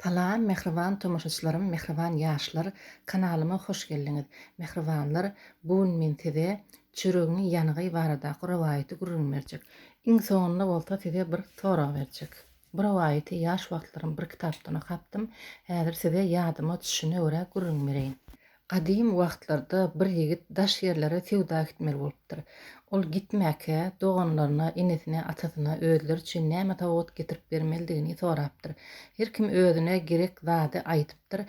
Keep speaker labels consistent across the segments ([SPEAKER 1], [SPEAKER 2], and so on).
[SPEAKER 1] Salam mähriban tomaşaçylarym mähriban ýaşlar kanalyma hoş geldiňiz mähribanlar bu gün men size çüregiň ýanygy baradaky rowaýaty gürrüň berjek iň soňunda bolsa size bir sorag berjek bu rowaýaty ýaş wagtlarym bir kitapdan okapdym häzir size ýadyma düşşine görä gürrüň bereýin Gadym wagtlarda bir ýigit daş ýerlere söwda gitmeli bolupdyr. Ol gitmäkä, doganlaryna, enesine, atasyna özleri üçin näme sowgat getirip bermelidigini sorapdyr. Her kim özüne gerek zady aýdypdyr.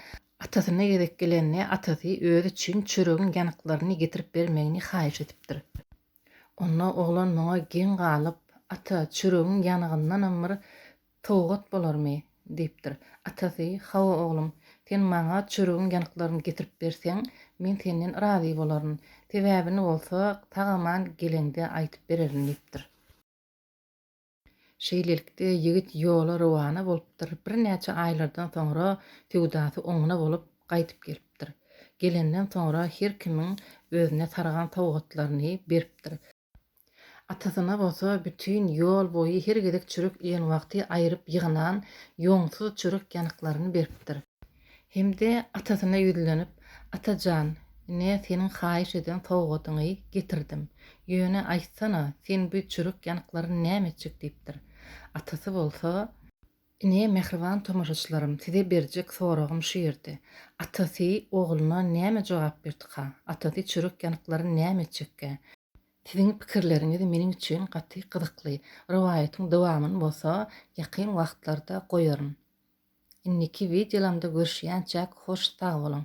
[SPEAKER 1] Atasyna gezek gelende, atasy özi üçin çöregiň ýanyklaryny getirip bermegini haýyş edipdir. Onda oglan muňa geň galyp, Ata, çöregiň ýanygyndanam bir sowgat bolarmy? diýipdir. Atasy, Hawa, oglum, sen maňa çöregiň ýanyklaryny getirip berseň, men senden razy bolaryn. Sebäbini bolsa, sag-aman geleňde aýdyp bererin diýipdir. Şeýlelikde, ýigit ýola rowana bolupdyr, birnäçe aýlardan soňra söwdasy oňuna bolup, gaýdyp gelipdir. Gelenden soňra her kimiň özüne sargan sowgatlaryny beripdir. Atasyna bolsa bütin ýol boýy her gezek çörek iýen wagty aýryp ýygnan ýoňsuz çörek ýanyklaryny beripdir. Hem-de atasyna ýüzlenip, Ata jan, ine, seniň haýyş eden sowgadyňy getirdim. Ýöne, aýtsana, sen bu çürük ýanyklary näme etjek? diýipdir. Atasy bolsa. Ine, mähriban tomaşaçylarym, size berjek soragym şu ýerde. Atasy ogluna näme jogap berdikä? Atasy çürük ýanyklary näme etjekkä? Siziň pikirleriňiz meniň üçin gaty gyzykly. Rowaýatyň dowamyny bolsa ýakyn wagtlarda goýaryn. Indiki wideolamda görüşýänçäk hoş sag boluň.